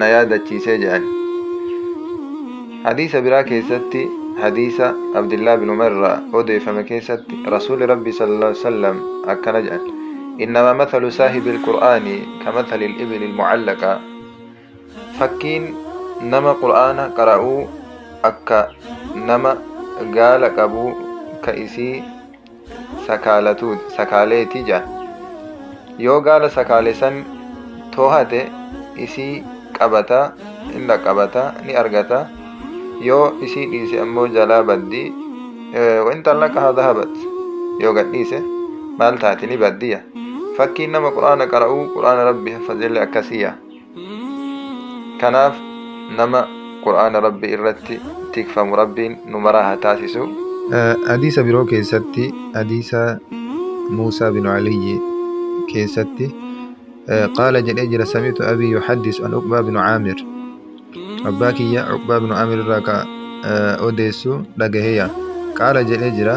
na yaadachiisee jedhan hadiisa biraa keessatti hadiisa abdillaa bin umar irraa odeeffame keessatti rasuuli rabbi sallallahu alaihi wasallam akkana jedhan innama mathalu saahibi alqur'aani ka mathali alibili almucallaqa fakkiin nama qur'aana qara'uu akka nama gaala qabuu ka isii sakaalatu sakaaleeti jedhan. Yoo gaala sakaale san toohate isii qabata, hin dhaqqabata, ni argata. Yoo isii dhiise ammoo jalaa baddi. Wain xallaqahaa dhahabat. Yoo gad dhiise maal taati ni baddiya. Fakkiin nama Qur'aana qara'uu Qur'aana Rabbi haffazellee akkasiya. Kanaaf nama Qur'aana Rabbii irratti tikfamu Rabbiin nu maraa haa taasisu. Hadiisa biroo keessatti hadiisa Muusaa bin Aliyyi keessatti qaala jedhee jira samitu abii yuhaddis an Uqbaa bin Aamir abbaa kiyya Uqbaa bin Aamir irraa ka odeessu dhagaheya qaala jedhee jira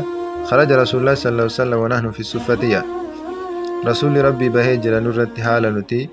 kharaja rasuulullah sallallahu alaihi wasallam wa nahnu fi suffatiyya rasuulli rabbii bahee jira nurratti haala nuti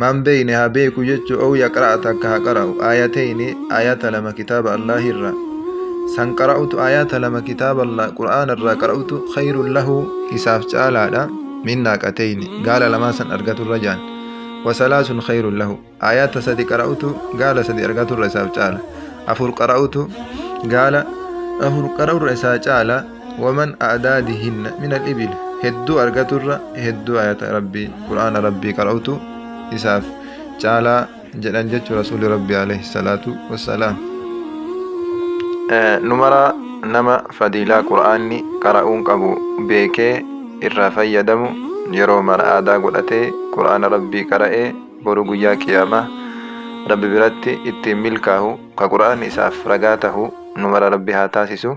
man beeyne haa beeku jechu ow yaqra'a takka ha qara'u aayateyni aayata lama kitaaba allahi irra san qara'utu aayata lama kitaaba allah qur'aana irraa qara'utu khayrun lahu isaaf caalaadha min naaqateyni gaala lamaa san argatu irra jaan wasalaasun khayrun lahu aayata sadi qara'utu gaala sadi argatu irra isaaf caala afur qara'utu gaala afur qara'u irra isaa caala waman a'daadihinna min al-ibil hedduu argaturra hedduu ayata rabbii qur'aana rabbii qara'utu isaaf caalaa jedhan jechu rasuuli rabbii alayhi salaatu wassalaam numara nama fadiilaa qur'aanni qara'uun qabu beekee irraa fayyadamu yeroo mara aadaa godhatee qur'aana rabbii qara'ee boruu guyyaa qiyaamaa rabbi biratti ittiin milkaahu ka qur'aanni isaaf ragaa tahu numara rabbi haa taasisu